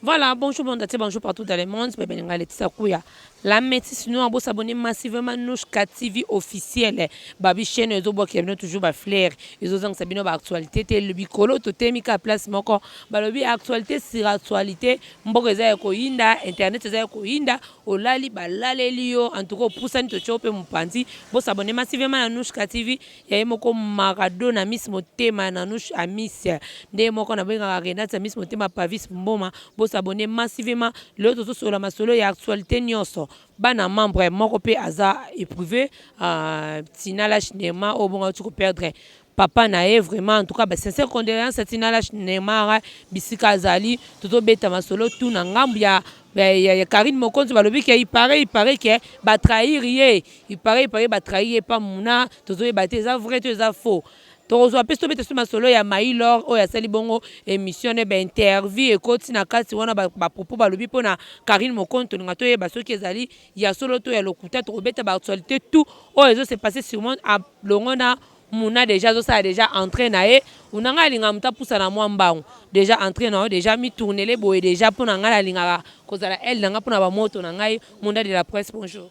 Voilà, bonjour monde entier, bonjour partout dans le monde. C'est Benenga Laetitia Kouya. La métisse nous avons s'abonner massivement Nouchka TV officiel. Babi chaîne ezo bo kebino toujours ba flair. Ezo zang sabino ba actualité te le bikolo to temi ka place moko. Balobi actualité sur actualité. Mboko eza ko yinda, internet eza ko yinda. Olali ba laleli yo en tout cas opusani totie yo pe mupanzi bo s'abonner massivement na Nouchka TV ya ye moko Maradona Miss motema ya Nanouche Amis nde ye moko nabengaka Renate ya Miss motema Pavis Mboma bo s'abonner massivement lelo tozo solola masolo ya actualite nionso bana membre moko pe aza eprouve euh, Tina Lach Neema oyo bongo awuti ko perdre papa na ye vraiment en tout cas ba sincère condoléances à Tina Lash Neymar bisika azali tozo beta masolo tout na ngambu ya ya Karine Mokonzi balobi ke il paraît il paraît ke ba trahir ye il paraît il paraît ba trahir ye pa muna tozo yeba te eza vrai to eza faux tokozwa mpe tobeta so masolo ya mailor oyo asali bongo émission ne ba interview ekoti na kati wana ba propos balobi mpo na Karine Mokonzi tolinga toyeba soki ezali ya solo to ya lokuta tokobeta ba actualité tout oyo ezo se passer sur monde alongo na Muna dejà azo sala dejà entree na ye una nga nalingaka mutu apusa na mwa mbangu dejà entree na yo dejà mi tournele boye dejà pona nga nalingaka kozala aile na nga pona ba moto na ngai munda de la presse bonjour.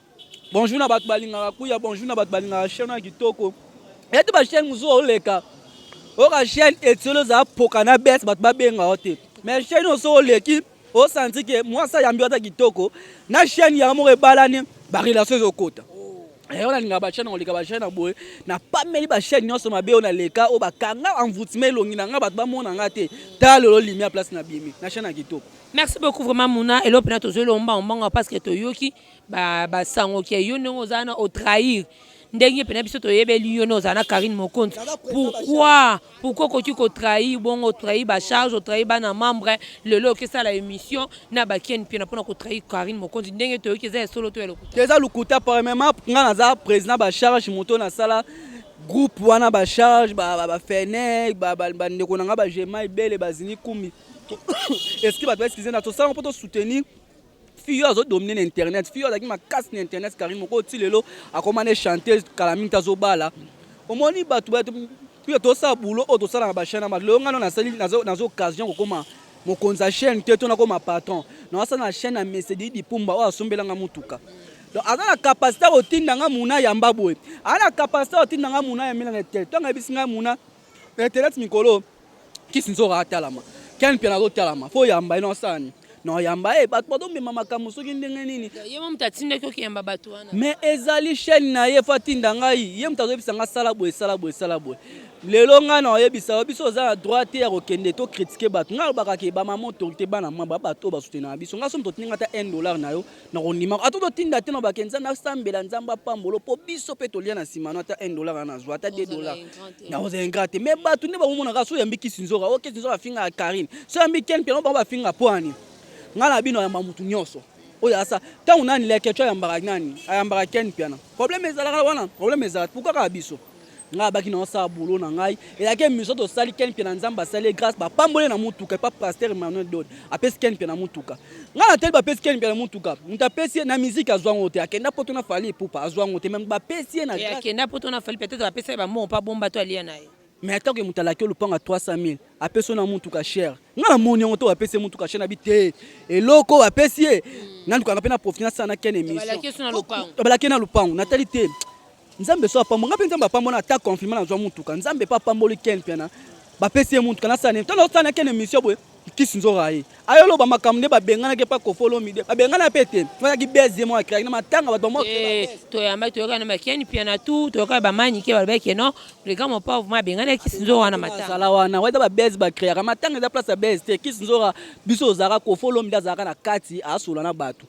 Bonjour na batu balingaka kuya bonjour na batu balingaka chaine oyo ya kitoko yete ba chaine mususu oleka oyoka chaine etiolo eza poka na bese batu babenga yo te mais chaine oyo soki oleki o sentir que mwasi ayambi yo ata kitoko na chaîne yango moko ebalani ba relation ezokota eh, oyo nalingaka bachaine koleka bachaine na boye napameli bachaine nyonso mabe oyo naleka oyo bakanga envoutima elongi na ngai bato bamona ngai te tala lelo limi ya place na bimi na chaine ya kitoko merci beaucoup vraiment muna eloko mpena tozweli ombango mbango parce que toyoki ba sango ke yo ndenge oza na o trahir ndenge pena biso toyebeli yo na oza na Karine Mokonzi pourquoi pourquoi okoki ko trahir bongo trahir ba charge o trahir bana membre lelo oke sala émission na ba Ken Mpiana pona ko trahir Karine Mokonzi ndenge toyoki eza ya solo to ya lokuta eza lokuta premièrement nga naza président ba charge moto na sala groupe wana ba charge ba ba, ba fene ba, ba, ba ndeko na nga ba jema ebele bazini kumi est-ce que bato ba excuse na tosala mpo to soutenir fille oyo azo domine na internet fille oyo azalaki makasi na internet carine moko ti lelo akoma ne chanteuse kala mingi te azobala omoni bato pia tosala boulot oyo tosala na bachaine ama lelo ngano nasali naza occasion kokoma mokonzi ya chaîne te to nakoma patron naosala na chaîne ya mesedi dipumba oyo asombelanga motuka donc aza na capacité kotinda nga muna yamba boye aza na capacité kotinda nga muna ya milana te ntango ayebisi ngai muna na internet mikolo Kiss nzoka atalama. Ken mpiana azo talama. Fo yamba ye na osala ni. Na oyamba ye bato bazo mema makambo soki ndenge nini. Ye mo moto atindaki okiyamba bato wana. Mais ezali chaîne na ye fo atinda ngai. Ye moto azo yebisa ngai sala boye sala boye sala boye. Lelo ngai na oyebisa yo biso oza na droit te ya kokende to critiquer bato. Ngai alobaka ke ba mama autorité bana mwa ba bato oyo ba soutenaka biso. Ngai soki moto atindi ngai ata un dollar na yo. na kondima ata totinda te na bake nzambe asambela nzambe apambolo mpo biso mpe tolia na nsima no ata 1 dollar wana azwa ata 2 dollar nakozala ingrat te mais bato nde bamomonaka so oyambi kisi nzoka o oh, kisi nzoka afingaka karine so oyambi ken mpiana bango bafinga mpo ani ngai na bino ayamba motu nyonso oyo asa ntango nani lekeco ayambaka nani ayambaka ken mpiana problème ezalaka wana problème ezalaka pourkua kaka biso ngai abaki na osala boulot na ngai elaki emission tosali ken mpe na nzambe asali ye grâce bapamboli na motuka epa pasteur emmanuel dod apesi ken mpe na motuka ngai natali bapesi ken mpe na motuka moto apesi ye na miziki azwa yango te akenda poto na fali epupa azwa yango te meme bapesi ye na grâce akenda poto na fali peut-être bapesa ye bambongo mpo abomba to alia na ye mais atako ye moto alaki olopanga 300 000 apesi yo na motuka chere ngai namoni yango to bapesi ye motuka chere nabi te eloko bapesi ye nalukaka mpe na profite nasala na ken emission balaki ye na lopango natali te Nzambe so apambo nga pe nzambe apambo na ata confinement nazwa mutuka nzambe pe apamboli ken piana bapesi ye mutuka nasala nini tana osala na ken emission boye kisi nzora ye ayo loba makambo nde babenganaki epa kofolomide babengana pe te azalaki bes ye moko akreaki na matanga bato bamo Eh, toyamba toyoka na makiani piana tu toyoka ba manike balobaki ke non le grand mopao ma abengana kisi nzo wana matanga azala wana wana eza babes bakreaka matanga eza place ya bes te kisi nzora biso tozalaka kofolomide azalaka na kati asola na bato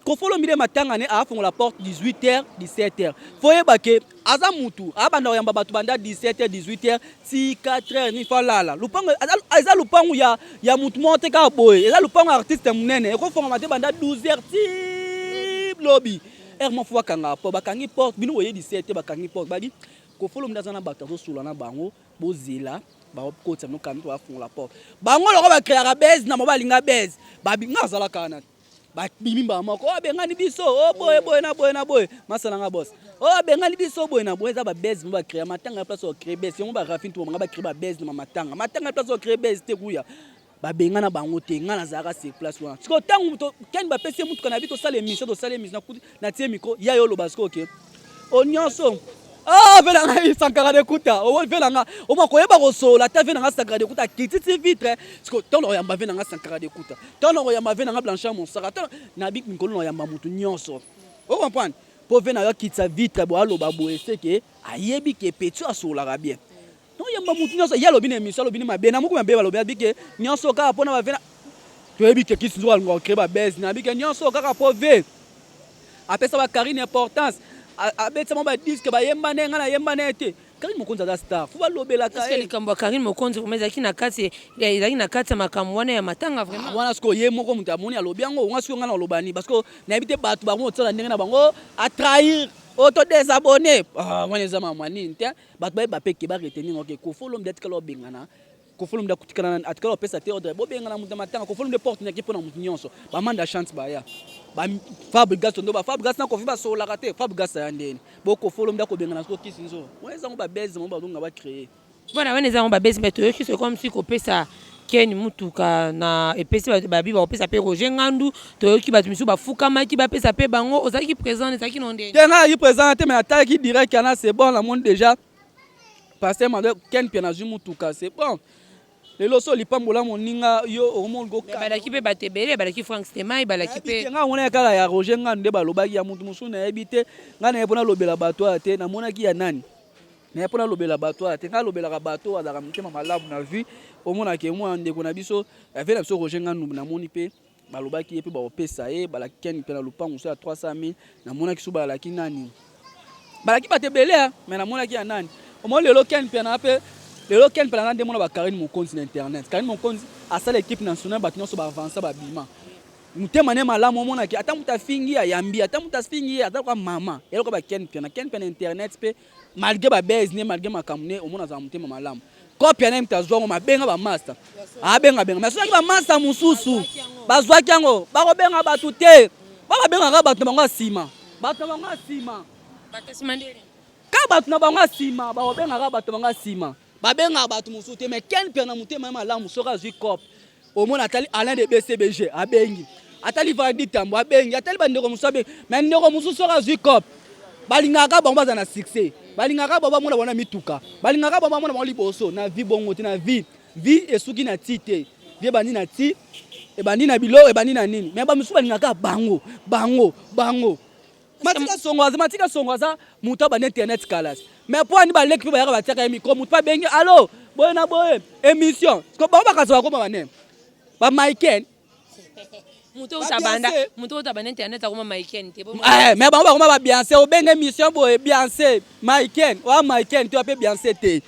kofolo mire matanga ne afongola porte 18h 17h faut yeba ke aza mutu abanda koyamba bato banda 17h 18h ti 4h ni fa lala lupango eza lupango ya ya mutu moko te kaka boye eza lupango ya artiste munene ekofongama te banda 12h ti lobi heure moko faut bakanga po bakangi porte bino boye 17h bakangi porte badi kofolo mire aza na bato azosula na bango bozela bakotisa bino kambi po bafongola porte bango loko bakreaka base na mobali nga base babinga azalaka wana te babimi mbala moko oyo abengani biso o boye boye na boye na boye masala nga bos oyo abengani biso boye na boye eza babese mo bacrea matanga ya place ocree bese yango barafine to banga bacree babese na matanga matanga ya place ocree bese te kuya babengana bango te ngai nazalaka sur place wana sikoyo ntango kani bapesi ye motuka na bi tosala emission tosala emission natie mikro ya yo oloba sikoyo ke okay. o nyonso ah vela ngai sankara de kuta o vela nga o ma ko yeba ko sola ta vela nga sankara de kuta kiti ti vitre siko to lo yamba vela nga sankara de kuta to lo yamba vela nga blanchard monsaka to na bi ngolo lo yamba mutu nyonso o comprendre po vela nga kitsa vitre bo aloba bo eseke ayebi ke petit asolaka bien Non yamba mutu nyoso ya lobi na emission lobi ni mabe na muku mabe balobi abi ke nyoso kaka pona ba vena toyebi ke kisi nzoka ngo crée ba buzz na abi ke nyoso kaka po ve apesa ba Karine importance abetisa mo ba disque ba yemba ne nga na yemba ne te Karine Mokonzi aza star fo balobelaka ye likambo ya Karine Mokonzi vraiment ezalaki na kati ezalaki na kati ya makambo wana ya matanga vraiment ah, wana siko ye moko moto amoni alobi yango nga siko nga na olobani parce que nayebi te bato bango otisala ndenge na bango a trahir oto oh, desabonne ah, wana eza mamwa nini te Bato bayeba pe ke ba retenir yango ke Koffi Olomide atikala kobengana Koffi Olomide akutikala atikala kopesa te ordre bobengana moto na matanga Koffi Olomide porte naki mpo na moto nyonso ba manda chante baya ba Fabregas ndo ba Fabregas na Koffi basololaka te Fabregas aya ndeni bo Koffi Olomide akobengana soko kisi nzo wana ezango ba buzz bango bazonga ba créer Voilà, wana eza yango ba buzz mais toyoki c'est comme si kopesa Ken mutuka na epesi bato ba bi bakopesa pe Roger Ngandu toyoki bato misusu bafukamaki bapesa pe bango ozalaki present ezalaki no ndeni? Te nga nazalaki present wana te mais natalaki direct kana c'est bon namoni dejà pasteur Emmanuel Ken Mpiana azwi mutuka c'est bon lelo osi olipambola moninga yo okomi olingi Mais okanga balaki pe bato ebele balaki Frank Stemay balaki nayebi te pe nga monaki kaka ya Roger Ngandu nde balobaki ya mutu mosusu nayebi te nga naye po nalobela bato awa te namonaki ya nani mais pona lobela bato wana te ngai lobelaka bato oyo azalaka motema malamu na vie omona ke mwana ndeko na biso avie na biso roger ngandu namoni mpe balobaki ye mpe bakopesa ye balaki keni mpe na lopango so ya 300 mille namonaki so balaki nani balaki bato ebele ya mais namonaki ya nani omoni lelo keni mpe na mpe lelo keni mpe na nde mona bakarine mokonzi na internet karine mokonzi asala ekipe national bato nyonso baavansa babima motema ne malamu omonaki ata moto afingi ayambi ata moto afingi ye aza lokola mama eloko bakeni mpe na keni mpe na internet mpe malgre ba buzz ne malgre makambo ne omona azala motema malamu kope ya nayemta azwa yango mabenga bamasta abengabenga mai soki bamasta mosusu bazwaki yango bakobenga bato te ba babengaka bato na bango ya nsima bato na bango ya nsima ka bato na bango ya nsima bakobengaka bato na bango ya nsima Ba bengaka batu mosusu te mais Ken Mpiana motema ye malamu soki azui cop omona atali Alain de BCBG abengi atali Valdi Tambo abengi atali ba ndeko mosusu abengi mais ndeko mosusu soki azui cop balingaka bango baza na succès balingaka bango bamona bango na mituka balingaka bango bamona bango liboso na vie bongo te na vie vie esuki na ti te vie ebandi na ti ebandi na biloko ebandi na nini mais bamosusu balingaka bango bango bango matika songo aza matika songo aza moto abanda internet kalas mais mpo ani baleki mpe bayaka batiaka ye mikro moto mpe abengi alo boye na boye émission ko bango bakaza bakoma bane bamaiken moto otabanda moto otabanda internet akoma maiken te eh, mais bango bakoma babianse obenge émission boye bianse maiken oya maiken to ape bianse te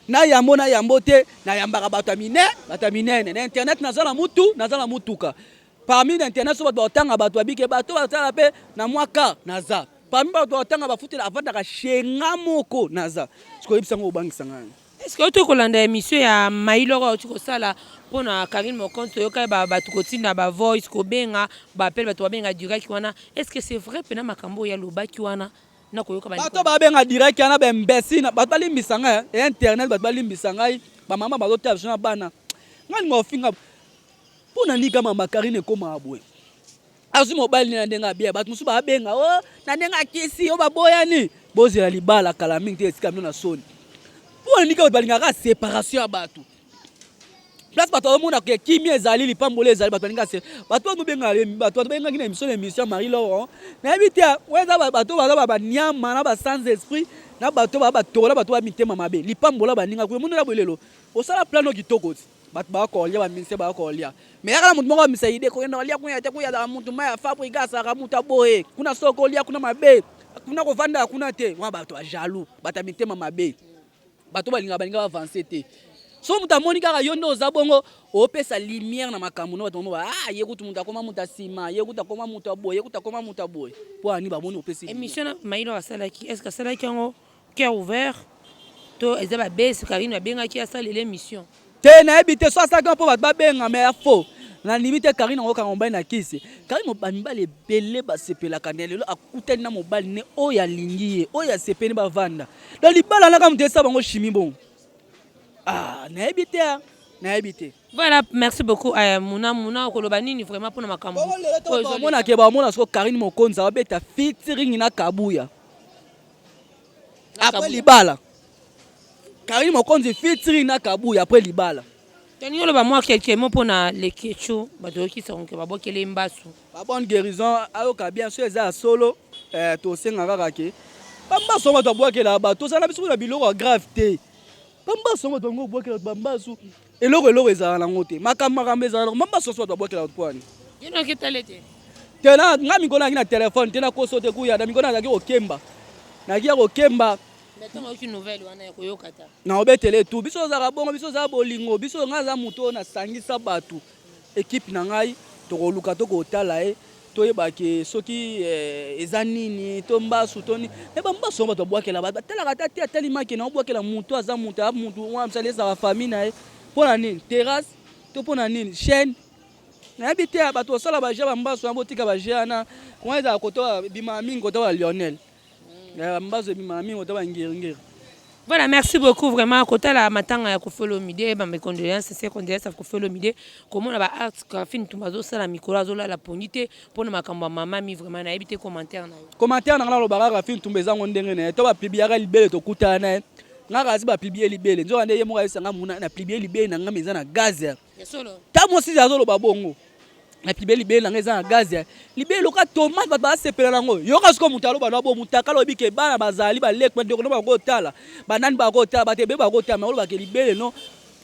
na yambo na yambo te nayambaka bato ya minene bato ya minene na internet naza na mutu naza na mutuka Parmi na internat so bato bakotanga bato ya bike bato basala pe na mwa ka naza parmi bato bakotanga bafutela avandaka shenga moko naza sikoyebisa yango obangisa ngai Est-ce que oto kolanda emission ya Mailor oyo kosala mpo na Karine Mokonzi toyokaki ba bato kotinda ba voice kobenga ba appel bato babenga direct wana est-ce que c'est vrai pena makambo oyo alobaki wana na koyoka ba bato babenga direct wana ba imbécile bato balimbisa ngai eh, internet bato balimbisa ngai ba mama bazotala biso na bana ngai linga ofinga Mpo na nini kama ma Carine ekomaka boye? Azwi mobali na ndenge abiya bato mosusu babenga o oh, na ndenge akisi o baboyani. Bozela libala kala mingi te etika bino na soni. Mpo na nini kaka balingaka separation ya bato? place bato bazomona ke kimia ezali lipamboli ezali bato balinga se bato bato benga bato bato bengaki na émission na émission Marie Laurent nayebi te weza bato baza ba banyama na ba sans esprit na bato ba batokola bato ba mitema mabe lipambola baninga kuya monela bolelo osala plano kitoko ti bato baya kolia baministre baya kolia me yaka na moto moko amisa ide kokenda kolia kuna yate kuya azalaka moto mai ya fabrika azalaka moto aboye kuna soko kolia kuna mabe kuna kovandaka kuna te wana bato ya jaloux bato ya mitema mabe bato balingaka balinga bavanse te so moto amoni kaka yo nde oza bongo opesa lumière na makambo no bato mamo ba ah, ye kutu moto akoma moto ya nsima ye kutu akoma moto ya boye ye kutu akoma moto ya boye mpo ani bamoni opesi emission na mailo asalaki est ce que asalaki yango Cœur ouvert to eza ba base Carine abengaki asalela emission. Te nayebi te soit asala kaka mpo bato babenga me ya faux nandimi te Carine yango kanga mobali na kisi Carine ba mibali ebele basepelaka ne lelo akutani na mobali ne oyo alingi ye oyo asepeli bavanda donc libala naka moto esa bango chimie bongo ah nayebi te ah. nayebi te voilà merci beaucoup aya eh, muna muna okoloba nini vraiment mpona makambo oyo ezomona ke bamona soko Carine Mokonzi abeta featuring na Kabuya Après libala. Karine Mokonzi featuring na Kabuya après libala. Tolingi oloba mwa quelque mot mpo na Leketshou bato oyokisa konke babwakeli ye mbasu. Ba bonne guérison ayoka bien so eza ya solo eh, tosenga kaka ke bambasu yango bato babwakelaka bato tozala na biso na biloko ya grave te bambasu yango bato yango obwakelaka bato bambasu Eloko eloko ezala nango te. Makambo makambo ezala nango. Mama soso bato babwakela bato pwani. Yo na oketale te. Te na nga mikolo naki na telefone te na koso te kuya na mikolo nazalaki kokemba. Naki ya kokemba. Mais ntango oyoki nouvelle wana ya koyoka ta. Na obetele tu. Biso ozalaka bongo biso oza bolingo biso nga aza moto oyo nasangisa bato. Equipe na ngai tokoluka to kotala ye toyeba ke soki eh, eza nini to mbasu to nini me bambasu yango bato babwakela bato batalaka ata te atali make na obwakela motu aza motu a motu wana mosali ezala famille na ye mpo na nini terrasse to mpo na nini chaîne nayebi te bato basala baje bambasu yango botika baje wana wana ezala koto bima mingi koto ba lionel Eh, mbazo ebimaka mingi ota bangeringeri Voilà, merci beaucoup vraiment. Kota la matanga ya Koffi Olomide, ba mes condoléances, c'est condoléances à Koffi Olomide. Comment la ba art Koffi Ntumbazo sala mikolo azola la pondite pour na makambo ya mama mi vraiment na ebite commentaire na yo. Commentaire na ngala lobaka Koffi Ntumba ezango ndenge na ye. To ba publiaka libele to kutana na ye. Ngaka asi ba publier libele. Nzoka nde ye moka esanga muna na publier libele na ngame eza na gaz. ta mwasi ze azoloba bongo napibe libele na ngai eza na gaz ya libele loka tomate bato basepela nango yoka siko moto aloba na bo motaka alobi ke bana bazali baleki bandeko no bakotala banani bakotala bato ebele bakotala makoloba ke libele no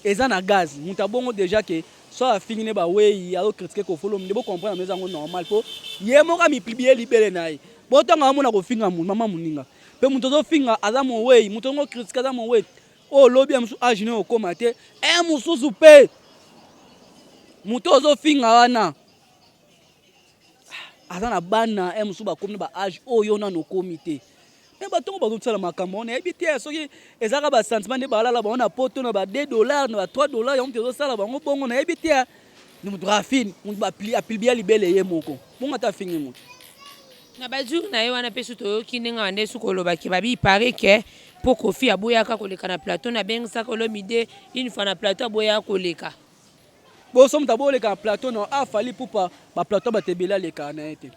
eza na gaz moto abongo deja ke so afingi ne bawei azokritike kofolo nde bocomprendre eza yango normal mpo ye moko amipibie libele na ye botanga amona kofinga mama moninga mpe moto azofinga aza mowei moto yango kritike aza mowei oyo lobi ya mosusu age nayo okoma te e mosusu mpe moto ozofinga wana aza na bana e mosusu bakomi na ba age oyo nano okomi te me batongo bazosala makambo wana yebi te soki ezalaka basentiment nde balala bango na poto na ba 2 dollar na ba 3 dollar yango mpe ezosala bango bongo nayebi te ni mutu rafine mutu apilibia libele ye moko bongo ata afingi mutu na bajour na ye wana mpe su toyoki ndenge bande su kolobaki babi pare ke mpo kofi aboyaka koleka na plateau na bengisaka olomide une fois na plateau aboyaka koleka boso moto aboleka na plateau na afali ah, pupa baplateau bato ebele alekaka na ye te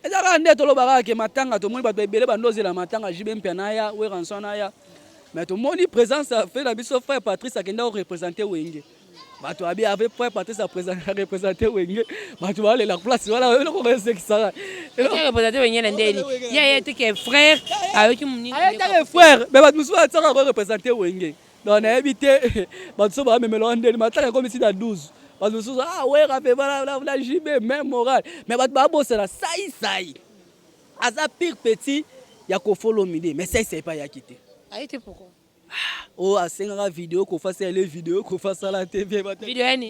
Eza kaka nde toloba kaka ke matanga tomoni bato ebele bando ozela matanga JB Mpia naya Weranson naya mais tomoni présence ya frère na biso frère Patrice akenda ko représenter Wenge bato abi avec frère Patrice a représenter Wenge bato balela place wana eloko esekisaka représenter Wenge na ndeni ya ye teke frère ayoki moni aye teke frère mais bato mosusu batisaka ko représenter Wenge Donc nayebi te bato so ba memela wana ndeni matanga ekomi ti na 12 bato mosusu ah wera pe bana na na JB même moral mais bato ba bosana sai sai aza pire petit ya kofolo mide mais sai sai pa yaki te ayi te pourquoi ah, oh asengaka video kofa sala le video kofa sala te vie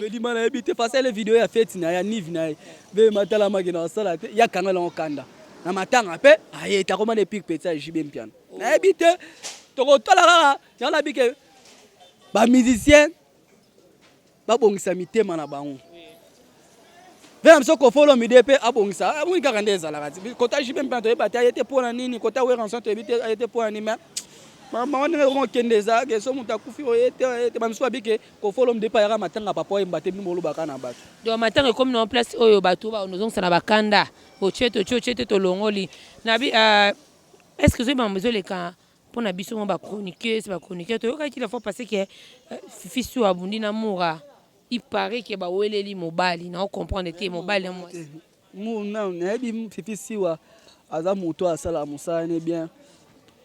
bedima na yebi te fa sala le video ya feti na ya nive na ye be matalamaki na asala te ya kanga lango kanda na matanga mpe aye takomana epire peti ya jb mpiana nayebi te tokotala kaka Yango nabi ke ba musiciens babongisa mitema na bango mpe na biso kofolo mide mpe abongisa amoni kaka nde ezalaka ti kota jipe mpe toyeba te aye te mpo na nini kota weranson toyebi te aye te mpo na nini me mama ndenge yango okende ezalaka eso moto akufi oye te oye te bamisusu babi ke kofolo mide mpe ayaka matanga papa oyemba te bino bolobaka na bato donc matanga ekomi na place oyo bato baozongisa na bakanda otie totie otie te tolongoli nabi euh, est ce que ozoyeba mambo ezoleka Mpo na biso mwa ba chroniqueuses, ba chroniqueurs toyokaki la fois passée que Fifi Su abundi na Mura. Il paraît que baweleli mobali, nao comprendre te mobali na mwasi. Mu- na- nayebi m- fifi siwa aza moto oyo asalaka mosala ne bien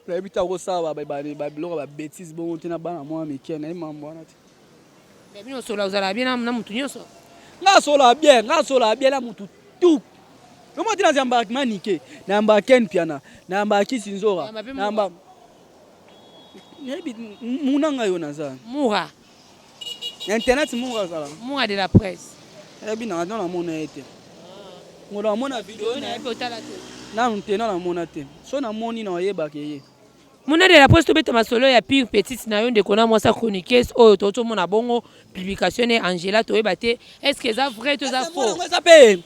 nayebi te akosala ba- ba- ba- ba- biloko ya babetise bongo te na bana mwa mike nayebi mambo wana te Mais bino sola ozala bien na mutu nyonso. Nga sola bien, nga sola bien na mutu tout. Lomo tina zamba manike, na yamba Ken Piana, na yamba Kisi Nzora, na yamba Nebi muna nga yo naza. Mura. Internet mura zala. Mura de la presse. Ebi na na mona ete. Ngola mona video na ebe otala te. Nanu te na mona te. So na moni na oyebaka ye. Muna de la presse tobeta masolo ya pire petite na yo ndeko na mwasi chroniqueuse oyo tokoti omona bongo publication ne Angela toyeba te est ce que eza vrai to eza faux eza pe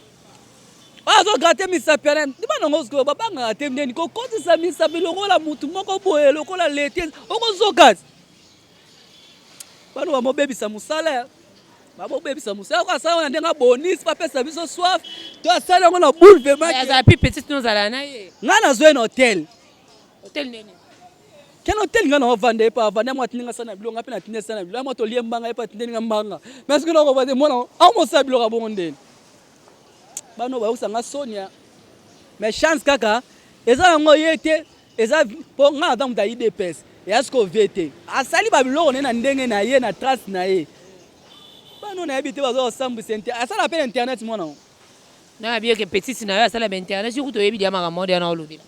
azo gratte misapi ya nani ndima nango sikoyo babangaka te ndeni kokotisa misapi lokola motu moko boye lokola lete okozoka bano bamobebisa mosala babobebisa mosala yango asala yango na ndenge abonisi bapesa biso soif to asala yango na boule vemaazala pi petite nozala na ye ngai nazwa ye na hotel Hotel nini? Ken hotel nga na wavanda epa avanda mwa tininga sana bilo nga pe na tininga sana bilo mwa to lie mbanga epa tindeni nga mbanga mais que loko bande mwana au mo sa bilo ka bongo ndeni bano ba yokusa nga sonia mais chance kaka eza yango ye te eza po nga aza muta idps ya siko vie te asali ba biloko ne na ndenge na ye na trace na ye bano na yebi te bazo osambu sente asala pe na internet mwana na bieke petite na yo asala ba internet yo kuto yebi dia makambo dia na olobela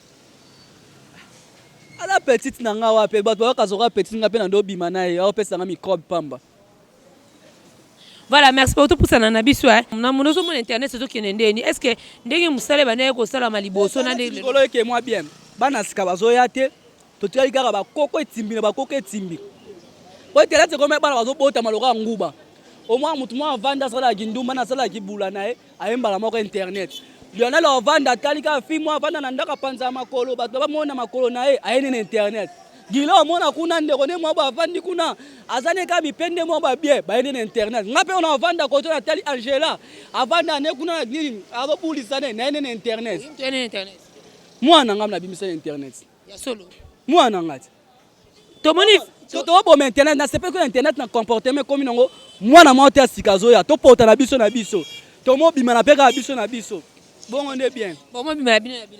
Ala petite na nga wapi bato bayaka zoka petite nga mpe na ndo bima na ye aopesa nga microbe pamba Voilà, merci beaucoup. Tout pour ça, na biso. Hein. Na mon ozo mon internet, c'est tout qui n'est ndeni. Est-ce que ndenge musale ba naye ko sala maliboso na ndenge. Kolo ke moi bien. Bana sika bazo ya te. To tikali kaka ba koko etimbi na ba koko etimbi. Po internet c'est comme bana bazo bota maloka nguba. Au moins mutu mwa vanda sala kindumba na sala kibula na ye. Eh. aye mbala moko internet lionel ovanda atali kaka fi mwa avanda na ndako apanza ya makolo bato bamona makolo na ye aye nini internet gila omona kuna ndeko nde mwabo avandi kuna aza ne kaka bipende mwabo abie baye nini internet nga mpe ona avanda koto natali angela avanda ne kuna nini azobulisa ne naye nini internet mwana ngai nabimisa na internet mwana ngai tomoni toboma internet nasepeli ko internet na comportement ekomi nango mwana mwa te ya sika azoya topota na biso na biso tomobima na mpe kaka biso na biso bongo nde bien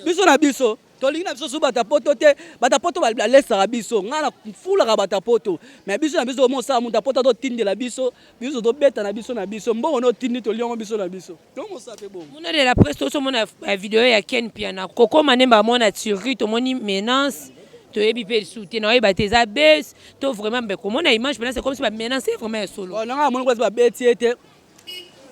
biso na biso tolingi na biso so batapoto te batapoto balesaka biso ngai nafulaka batapoto mai biso na biso omosala moto apota totindela biso biso tobeta na biso na biso mbongo no tindi toliongo biso na biso tomosa mpe bongo muna de la presse tosomona eh, video ya ken piana kokoma nde mbamona turki tomoni menace toyebi mpe lisusu te naoyeba te eza bes to vraiment mbe komona image mpena se komisi bamenance ye vraiment ya solo oh, nanga amoni place babeti ye te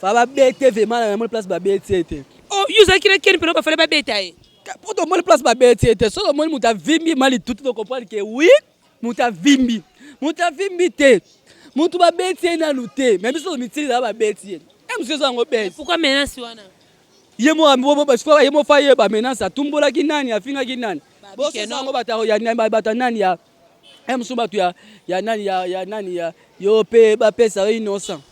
fa babete vraiment na amoni place babeti ye te oh, yo ozalaki na ken mpena bafale babeta ye mpo tomoni place babeti ye te soki omoni moto avimbi ma litutu tokomprendre ke wi Moto avimbi, moto avimbi te, moto babeti ye nanu te, me biso tomitili na babeti ye e mosusu yango beti. Pourquoi menace wana? Ye moko ye moko ye ba menace atumbolaki nani, afingaki nani? Boso yango bato ya nani ya e mosusu bato ya nani ya nani ya yo pe bapesa yo innocent.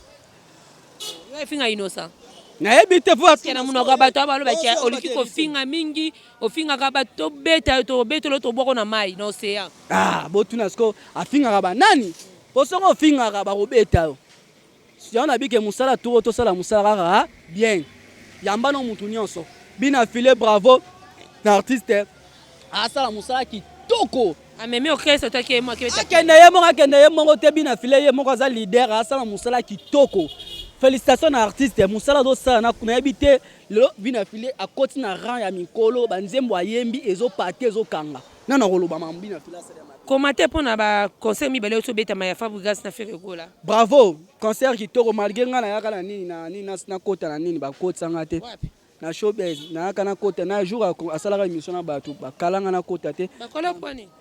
Yo finga innocent. nayebi te po Parce que na munoko ya bato ya baloba ke oliki kofinga mingi ofingaka bato tobeta yo tobetelo tobwako na mai na ocean ah botuna siko afingaka banani po soki ofingaka bakobeta yo yango nabike mosala turo tosala mosala kaka ah, bien yambana mutu nyonso bina file bravo na artiste asala mosala kitoko amemi orchestre otaki ye moko akende ye moko akende ye moko te bina file ye moko aza leader asala mosala kitoko félicitation na artiste mosala azosala na nayebi te lelo bina file akoti na rang ya mikolo banzembo ayembi ezopate ezokanga nano akoloba mambo bina file asala koma te mpo na baconcert mibale oso obetama ya fabrigas na feregola bravo concert kitoko malgre ngai nayaka na nini na nini nakota na nini bakotisa ngai te na showbiz nayaka nakota na jour asalaka émission na bato bakalanga nakota te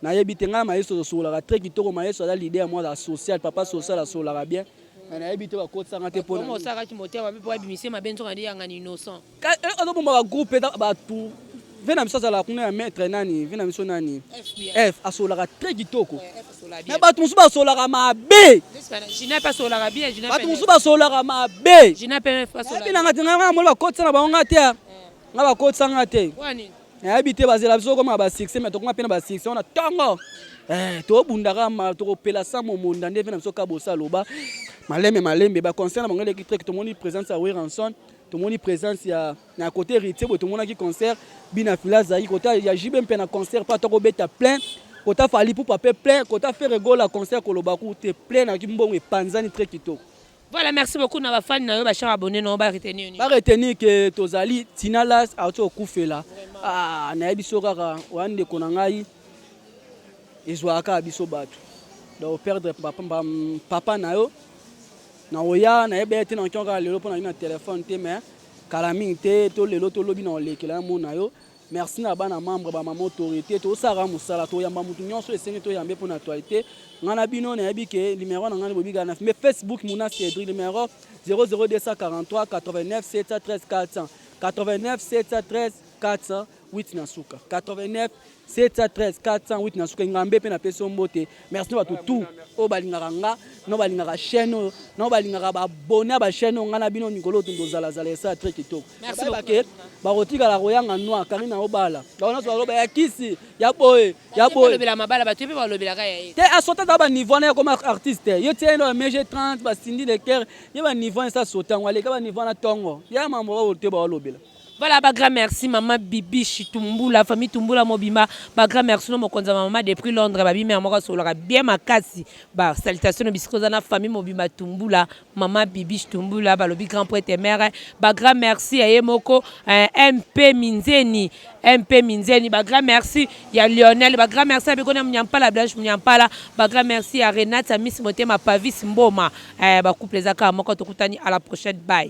nayebi te ngai mayeso asololaka très kitoko mayeso aza lide ya mwana social papa social asololaka bien mais nayebi te bakotisanga te mponaosalaki motema mabe mpo abimise mabe nzoka nde yangana innocent eh, azobomba bagroupe eza bato ve na biso azalaka kuna ya maître nani ve na biso nani f asololaka très kitoko me bato mosusu basolaka mabe bato mosusu basolaka mabe nanga te ngai na moni bakotisa na bango ngai te eh. ngai bakotisa ngai te nayebi te bazela biso okoma basuccès me tokoma mpe na basuccès wana ntongo eh, tobundaka ma tokopela sa momonda nde mpe na biso ka bosa loba malembe malembe baconcert na bango elekitrik tomoni présence ya weranson tomoni présence ya Na cote heritier boye tomonaki concert bina fila azalaki kota ya JB mpe na concert mpe atako beta plein kota Fally Ipupa mpe plein kota Ferre Gola concert koloba ku te plein na kimbongo epanzani très kitoko Voilà, merci beaucoup na ba fans na yo ba chers abonnés na yo ba retenir nini? ba retenir que tozali Tina Las auti okufela ah nayebi so kaka oya ndeko na ngai ezwaka kaka biso bato donc perdre papa, papa na yo Nakoya na ebele te, nakoki kaka lelo mpo nazali na telephone te mais kala mingi te to lelo to lobi nakolekela yo mona yo. Merci na bana membre ba mama autorite tosalaka mosala toyamba moto nyonso esengi toyambe mpo na actualité ngai na bino nayebi ke numero na ngai bobika na mais facebook muna cedri numero 00243 89 713 400 89 713 400 8 na suka 89 713 408 na suka engambe mpe napesi yo mbote merci na bato tout oyo balingaka nga na balingaka chaîne oyo na balingaka babone ya bachaîne oyo ngai na bino mikolo oyo tondozalazala esala tre kitoko bayebake bakotikala koyanga noir karina obala bango nyonso baloba ya kisi ya boye ya boyelobela mabala bato mpe balobelaka ya ye te asota ata baniveau wana yakoma artiste ye tie ndo mege 30 basindi de cœur ye baniveau wana esa sota yango aleka baniveau wana ntongo ya mambo babote baolobela Voilà ba grand merci maman Bibiche Tumbula famille Tumbula mobimba ba grand merci no mokonza maman depuis Londres ba bimi moko solaka bien makasi ba salutation no bisiko za na famille mobimba Tumbula maman Bibiche Tumbula ba lobi grand poète mère ba grand merci ya ye moko eh, MP Minzeni MP Minzeni ba grand merci ya Lionel ba grand merci ya Bikona Munyampala Blanche Munyampala ba grand merci ya Renata Miss Motema Pavis Mboma eh, ba couple za kaka moko tokutani à la prochaine bye